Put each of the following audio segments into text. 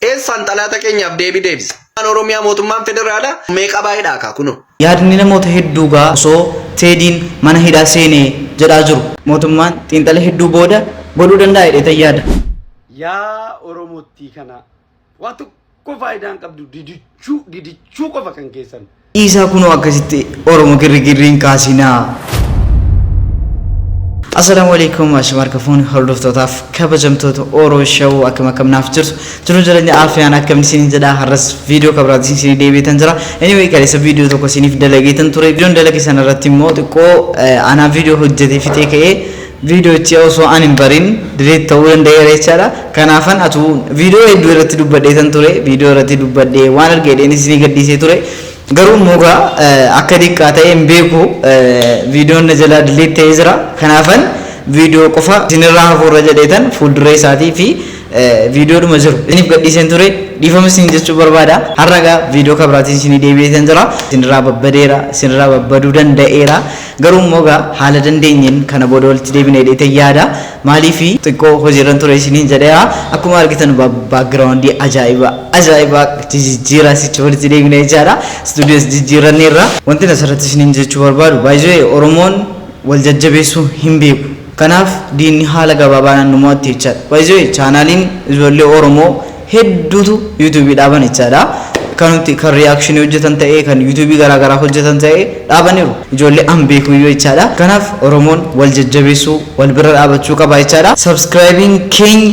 Eessaan xalaata keenyaaf deebii deebisa? Mootummaan Oromiyaa mootummaan federaalaa meeqa baay'eedha kaa kunoo. Yaadni namoota hedduu gaa osoo Teediin mana hidhaa seene jedhaa jiru. Mootummaan xiinxala hedduu booda godhuu danda'a jedheetan yaada. Yaa oromottii kanaa. Waa tokko faayidaa hin qabdu didichuu didichuu qofa kan keessan. Dhiisaa kunoo akkasitti Oromo girrigirri hin kaasinaa. Assalaamu alaikum ashama harka fuuni hordoftootaaf kabajamtoota Oro Show akkam akkam naaf jirtu jiruu jireenya aafiyaan akkam isin jedha har'as viidiyoo kabraati isin deebiitan jira anyway kaleessa viidiyoo tokko isiniif dalageetan ture viidiyoon dalage sana irratti immoo xiqqoo anaa viidiyoo hojjetee fixee ka'ee Viidiyochi osoo an hin barin delete ta'uu danda'eera jechaadha. Kanaafan atuu viidiyoo hedduu irratti dubbadheetan ture. Viidiyoo irratti dubbadhee waan arge jedheen isinii gadhiisee ture. Garuu immoo egaa akka diqqaa ta'e hin beeku. Viidiyoon na jalaa delete ta'ee jira. Kanaafan viidiyoo qofa isinirraa hafuurra jedheetan fuulduree isaatii fi viidiyoodhuma jiru isiniif gadhiiseen ture. Dhiifama isiniin jechuu barbaada. Har'a egaa viidiyoo kan biraatiin isinii deebi'eetan jira. Isinirraa babbadeera, isinirraa babbaduu danda'eera. Garuu immoo egaa haala dandeenyeen kana booda walitti deebina jedheetan yaada. Maaliif xiqqoo hojiirran ture isiniin jedheera. Akkuma argitan ba- background ajaa'iba ajaa'iba jijijjiiraa sichi walitti deebina jechaadha. Studios jijjiirranneerra. Wantin asirratti isiniin jechuu barbaadu by the way Oromoon wal jajjabeessuu hin beeku. Kanaaf diinni haala gabaabaadhaan nu mo'atti jechaadha. By the way chaanaaliin ijoollee Oromoo hedduutu YouTube dhaaban jechaadha. Kan nuti kan reaction hojjetan ta'ee kan YouTube garaa garaa hojjetan ta'ee dhaabaniiru. Ijoollee an beekuyyuu jechaadha. Kanaaf Oromoon wal jajjabeessuu wal bira dhaabachuu qaba jechaadha. Subscribing keenya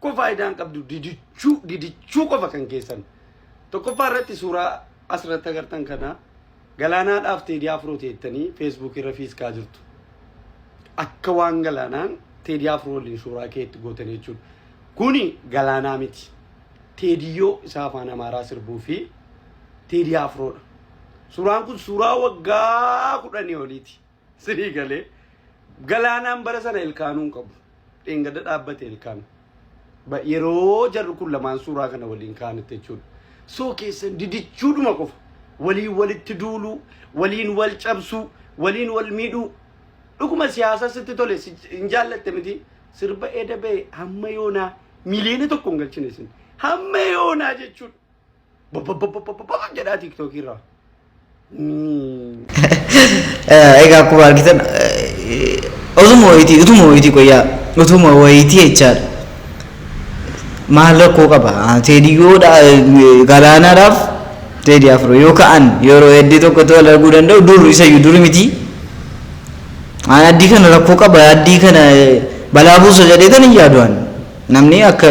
Kun faayidaa hin qabdu didichuu didichuu qofa kan keessan. Tokkoffaa irratti suuraa asirratti agartan kana galaanaadhaaf teedii afroo teettanii feesbuuk irra fiiskaa jirtu. Akka waan galaanaan teedii afroo waliin suuraa keetti gootan jechuudha. Kuni galaanaa miti. Teediyyoo isaa afaan amaaraa sirbuu fi teedii afroodha. Suuraan kun suuraa waggaa kudhanii oliiti. Sinii galee galaanaan bara sana ilkaanuu hin qabu. Dheengadda dhaabbate ilkaan. Ba- Yeroo jarri kun lamaan suuraa kana waliin kaa'anitti jechuudha. Soo keessan didichuudhuma qofa. Waliin walitti duuluu, waliin wal cabsuu, waliin wal miidhuu. Dhuguma siyaasa sitti tole si- hin jaallatte miti. Sirba eeda ba'e hamma yoonaa miliyoona tokko hin galchine isin. Hamma yoonaa jechuudha. Bobbobbobbobbobboo jedhaa tiiktookii irraa. Egaa akkuma argitan utuma wayitii utuma wayitii qoyyaa utuma wayitii jechaadha. Maal rakkoo qaba? Teediyyoodha galaanaadhaaf teedii afur yoo ka'an yeroo hedduu tokko ta'uu wal arguu danda'u dur isayyuu duri miti. Aan addii kana rakkoo qaba addii kana balaa buusa jedhee tan hin yaadu'an namni akka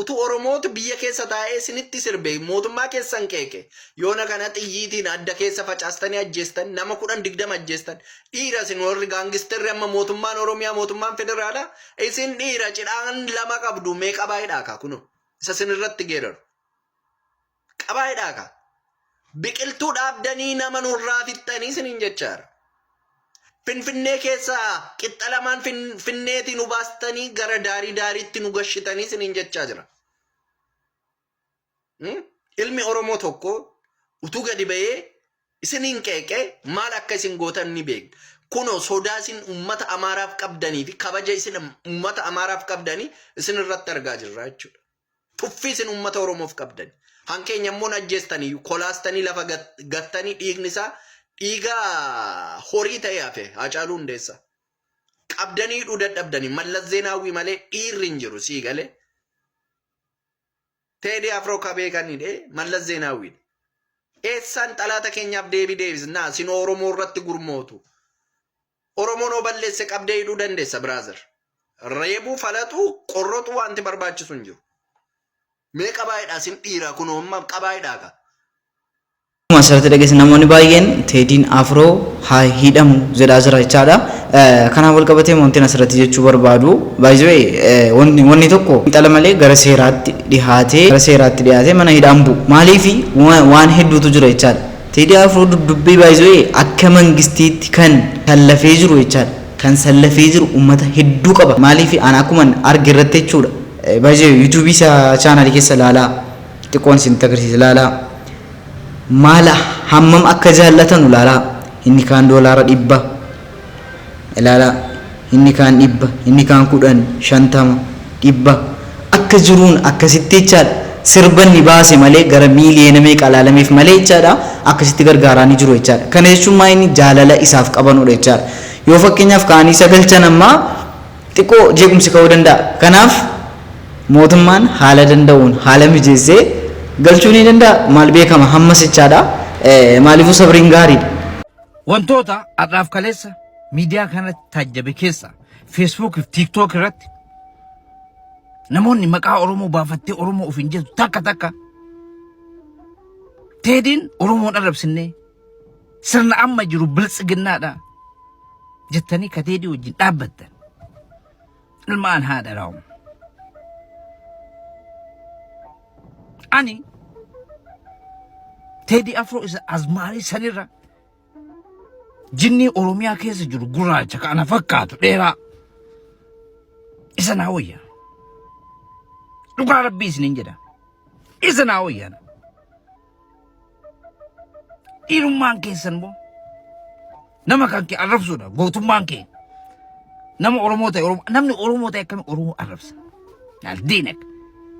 Utu oromootu biyya keessa taa'ee isinitti sirbe mootummaa keessan qeeqe yoona kana xiyyiitiin adda keessa facaastanii ajjeestan nama kudhan digdama ajjeestan dhiira isin warri gaangisterri amma mootummaan oromiyaa mootummaan federaalaa isin dhiira cidhaan lama qabdu mee qabaa hidhaa kaa kunoo isa isin irratti geeraru qabaa jedhaa kaa biqiltuu dhaabdanii nama nurraa fixxanii siniin jechaara. Finfinnee keessaa qixxa lamaan finfinneetii nu baastanii gara daarii daariitti nu gashitanii siniin jechaa jira. Hmm? Ilmi Oromoo tokko utuu gadi ba'ee isiniin qeeqee maal akka isin gootan ni beekna. Kunoo sodaa isin uummata Amaaraaf qabdanii fi kabaja isin uummata Amaaraaf qabdanii isin irratti argaa jirra jechuudha. Tuffii isin uummata Oromoof qabdani. Kan keenya immoo hin ajjeestani, kolaastanii lafa gattanii dhiigni isaa dhiiga horii ta'ee hafe Haacaaluu Hundeessaa. Qabdanii hidhuu dadhabdani. Mallas Zeenaawwii malee dhiirri hin jiru sii galee. Teedii Afroo kabee kan hidhee Mallas Zeenaawwiidha. Eessaan xalaata keenyaaf deebii deebisna? Isin Oromoo irratti gurmootu. Oromoon hoo balleesse qabdee hidhuu dandeessa brother. Reebuu, falaxuu, qorroxuu waanti barbaachisu hin jiru. Mee qabaa hidhaa sin dhiiraa kunoo amma qabaa hidhaa kaa. Akkuma asirratti dhageessan namoonni baay'een Teediin Afroo haa hidhamu jedhaa jira jechaadha. Kanaan wal qabatee wantin asirratti jechuu barbaadu baay'ee wanni tokko xala malee gara seeraatti dhihaatee gara seeraatti dhihaatee mana hidhaan bu'u. Maaliif waan hedduutu jira jechaadha. Teddy Afro dubdubee by the way akka mangistiitti kan sallafee jiru jechaadha kan sallafee jiru ummata hedduu qaba maaliif an akkuman arge irratti jechuudha by the way youtube isa channel keessa laalaa xiqqoon isinitti agarsiisa laalaa maala hammam akka jaallatanu laalaa inni kaan doolaara dhibba Ilaalaa, inni kaan dhibba, inni kaan kudhan, shantama, dhibba, akka jiruun akkasitti jechaadha. Sirba inni baase malee gara miiliyoona meeqa laalameef malee jechaadha akkasitti gargaaraanii jiru jechaadha. Kana jechuun maa inni jaalala isaaf qabanudha jechaadha. Yoo fakkeenyaaf kaanii isa galchan amma xiqqoo jeequmsi ka'uu danda'a. Kanaaf mootummaan haala danda'uun haala mijeessee galchuu ni danda'a. Maal beekama hammas jechaadha. Maaliifuu sabriin gaariidha. Wantoota har'aaf kaleessa miidiyaa kanatti taajjabe keessa Facebook fi TikTok irratti namoonni maqaa Oromoo baafattee Oromoo ofiin jettu takka takka teediin Oromoon arrabsinnee sirna amma jiru biltsiginnaadha jettanii ka teedii wajjin dhaabbattan. ilmaan haadha raawwa. Ani Teedii Afroo isa azmaarii sanirra jinnii Oromiyaa keessa jiru gurraacha ka ana fakkaatu dheeraa isa naa wayya. Dhugaa rabbii isiniin jedha. Isa naa wayyaana. Dhiirummaan keessan immoo nama kan kee arrabsuudha gootummaan kee nama Oromoo ta'e Oromoo namni Oromoo ta'e akkami Oromoo arrabsa laal diinag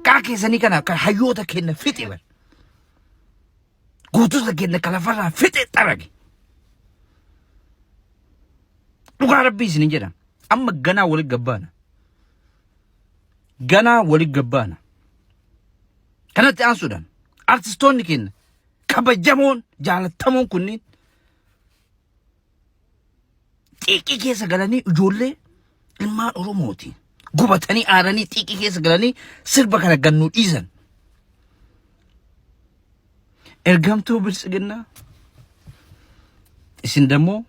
kaa keessanii kana kan hayyoota kenna fixe bar gootota kenna kan lafarraa fixe xarage dhugaa rabbii isin hin jedhan amma ganaa walitti gabbaana ganaa walitti gabbaana Kanatti aansuudhaan artistoonni keenya kabajamoon jaalattamoon kunniin xiiqii keessa galanii ijoollee ilmaan Oromooti. Gubatanii aaranii xiiqii keessa galanii sirba kana gannuu dhiisan. Ergamtuu biltsiginnaa isin dammoo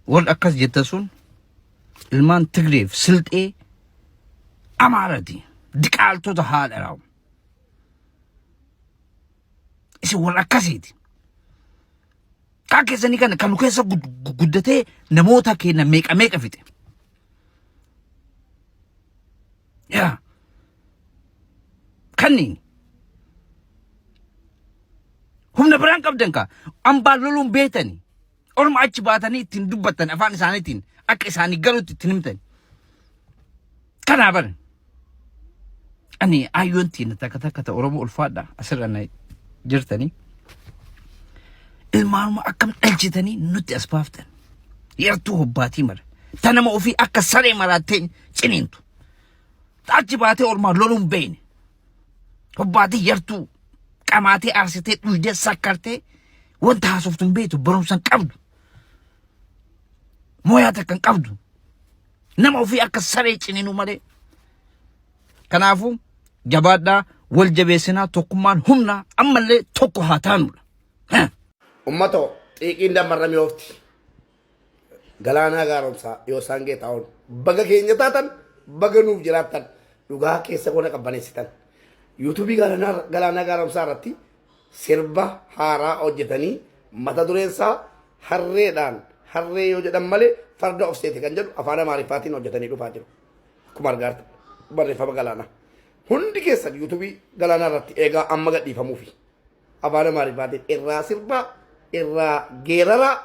warri akkas jettan sun ilmaan Tigreef silxee Amaarati diqaaltota haadha raawwa. isin wal akkasiiti kaa keessanii kana kan nu keessa gud- gu- guddatee namoota keenya meeqa meeqa fixe yaa kanniin humna biraan qabdan kaa ambaan loluun beetani Orma achi baatanii ittiin dubbattan afaan isaaniitiin akka isaanii galutti ittiin himtan. Kanaa bara. Ani ayyoon tiina takka takka ta Oromoo ulfaadha asirra na jirtanii. Ilmaanuma akkam dhalchitanii nutti as baaftan. Yartuu hobbaatii mara. Ta nama ofii akka saree maraattee ciniintu. Ta achi baatee ormaa loluun beeyne. Hobbaatii yartuu qamaatee aarsitee dhuydee sakkartee wanta haasoftu hin beektu barumsa hin qabdu. Mooyaa takka hin qabdu. Nama ofii akka saree ciniinuu malee. Kanaafuu jabaadhaa wal jabeessinaa tokkummaan humna ammallee tokko haa taanudha. Ummatoo xiiqiin dammarra mi'oofti. Galaanaa Gaaromsaa, Yoosaan Geetaahuun baga keenya taatan baga nuuf jiraattan dhugaa keessa goona qabbaneessitan. Yuutuubii Galaanaa Galaanaa Gaaromsaa irratti sirba haaraa hojjetanii mata dureen isaa harreedhaan harree yoo jedhan malee farda of seete kan jedhu afaan Amaariffaatiin hojjetanii dhufaa jiru. Akkuma argaa jirtan barreeffama Galaanaa. Hundi keessan yuutuubii Galaanaa irratti eegaa amma gadhiifamuufi. Afaan Amaariffaatiin irraa sirbaa, irraa geeraraa.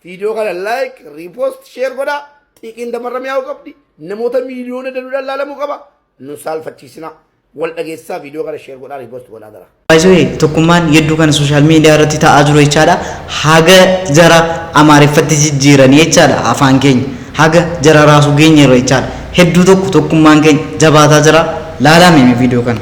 Viidiyoo kana like, repost, share godhaa. Xiiqiin damarra mi'aa'uu qabdi. Namoota miiliyoona danuudhaan laalamuu qaba. Nu saalfachiisinaa. Wal dhageessisaa viidiyoo kana share godhaa, repost godhaa dara. Baay'ee tokkummaan yedduu kana sooshaal miidiyaa irratti ta'aa jiru jechaadha. Haga jara Amaariffatti jijjiiranii jechaadha afaan keenya. Haga jara raasuu geenyeerra jechaadha. Hedduu tokko tokkummaan keenya jabaataa jira. Laalaa mee viidiyoo kana.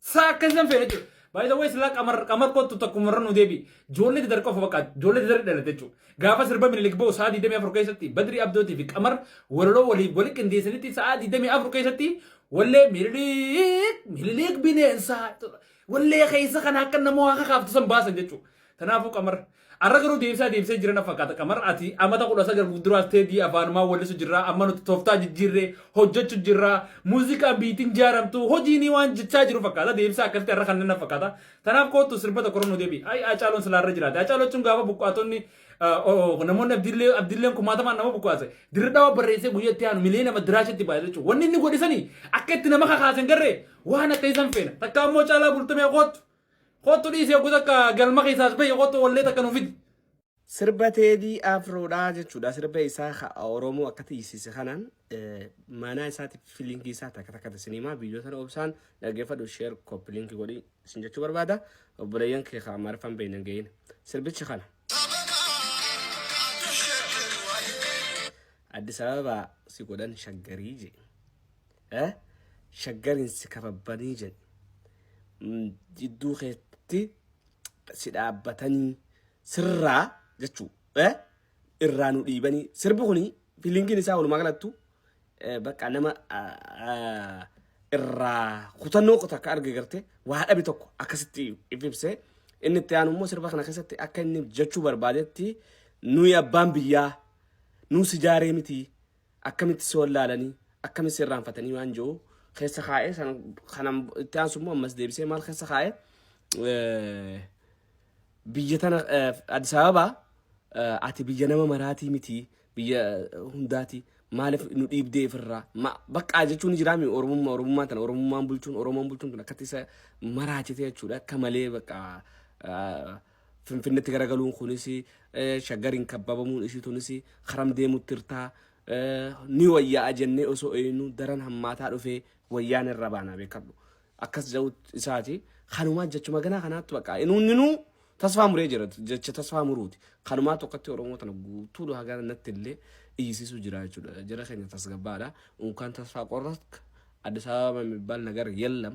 Saa akka isaan feene jechuudha. By the way silaa qamar qamar kottu takkuma irra nu deebi. Joollee dadar qofa bakka joollee dadar dhalate jechuudha. Gaafa sirba minilik ba'u sa'a 24 keessatti badri abdootii fi qamar walaloo walii wali qindeessanitti sa'a 24 keessatti wallee mililik mililik bineensaa wallee keessa kana akka nama waa kakaaftu san baasan jechuudha. Kanaafuu qamar arra garuu deebisaa deebisee jira na fakkaata qamar ati amata kudha sagal fuulduraas teedii afaanumaa wallisu jirraa amma nuti toftaa jijjiirree hojjechu jirraa muuziqaan biitiin jaaramtu hojiinii waan jechaa jiru fakkaata deebisaa akkasitti arra kanneen na fakkaata kanaaf koottu sirba tokko nu deebi ay acaaloon silaarra jiraate acaaloo jechuun gaafa buqqaatonni namoonni abdillee abdilleen kumaatamaan nama buqqaase dirri dhawa barreessee guyyaa itti aanu miliyoona nama diraashatti baay'ee jechuudha wanni inni godhisanii akka itti nama kakaasan garree waan akka isan feena takka ammoo caalaa bultumee koottu Kottu dhiisi hoggu takka galma keessaa as bahi kottu wallee takka nu fidi. Sirba Teedii Afroodhaa jechuudha. Sirba isaa ka Oromoo akka tiisiise kanaan eh, maanaa isaatiif fi liinkii isaa takka takka tasiniimaa viidiyoo sana obsaan dhaggeeffadhu sheer kooppi liinkii godhi isin jechuu barbaada. Obboleeyyan kee ka Amaariffaan beeyne hin ga'iin. Sirbichi kana. Addis Ababa si godhan shaggarii jee. eh shaggarin si kababbanii jedhi mm, jidduu keetti si dhaabbatanii sirraa jechuu eh irraa nu dhiibanii sirbi kuni fiilingiin isaa walumaa galattu eh, bakka nama ah, ah, irraa kutannoo kuta akka arge garte waa dhabe tokko akkasitti if ibsee inni itti aanu immoo sirba kana keessatti akka inni jechuu barbaadetti nuyi abbaan biyyaa nuu sijaaree miti akkamitti si wallaalanii akkamitti si irraanfatanii waan jiru keessa kaa'ee sana kanan itti aansu immoo ammas deebisee maal keessa kaa'ee eh, biyya tana eh, Addis Ababa eh, ati biyya nama maraatii miti biyya eh, hundaati maaliif nu dhiibdee ifirraa Ma- baqqaa jechuun jiraami oromummaa oromummaa tana oromummaan bulchuun oromoon bulchuun kun akkatti isa maraachite jechuudha akka malee baqqaa eh, Finfinnetti garagaluun kunis shaggariin kabbabamuun isii tunis karam deemutti irtaa ni wayyaa ajennee osoo eeynu daran hammaataa dhufee wayyaan irra baanaa beekadhu. Akkas ja'u isaati kanumaa jechuma ganaa kanaatti baqa inuunninuu tasfaa muree jira jecha tasfaa muruuti. Kanumaa tokkotti Oromoo tana guutuu dhuhaa gara natti illee iyyisiisuu jira jechuudha. Jara keenya tasgabbaadha. Unkaan tasfaa qorratk Addis Ababa የሚባል ነገር የለም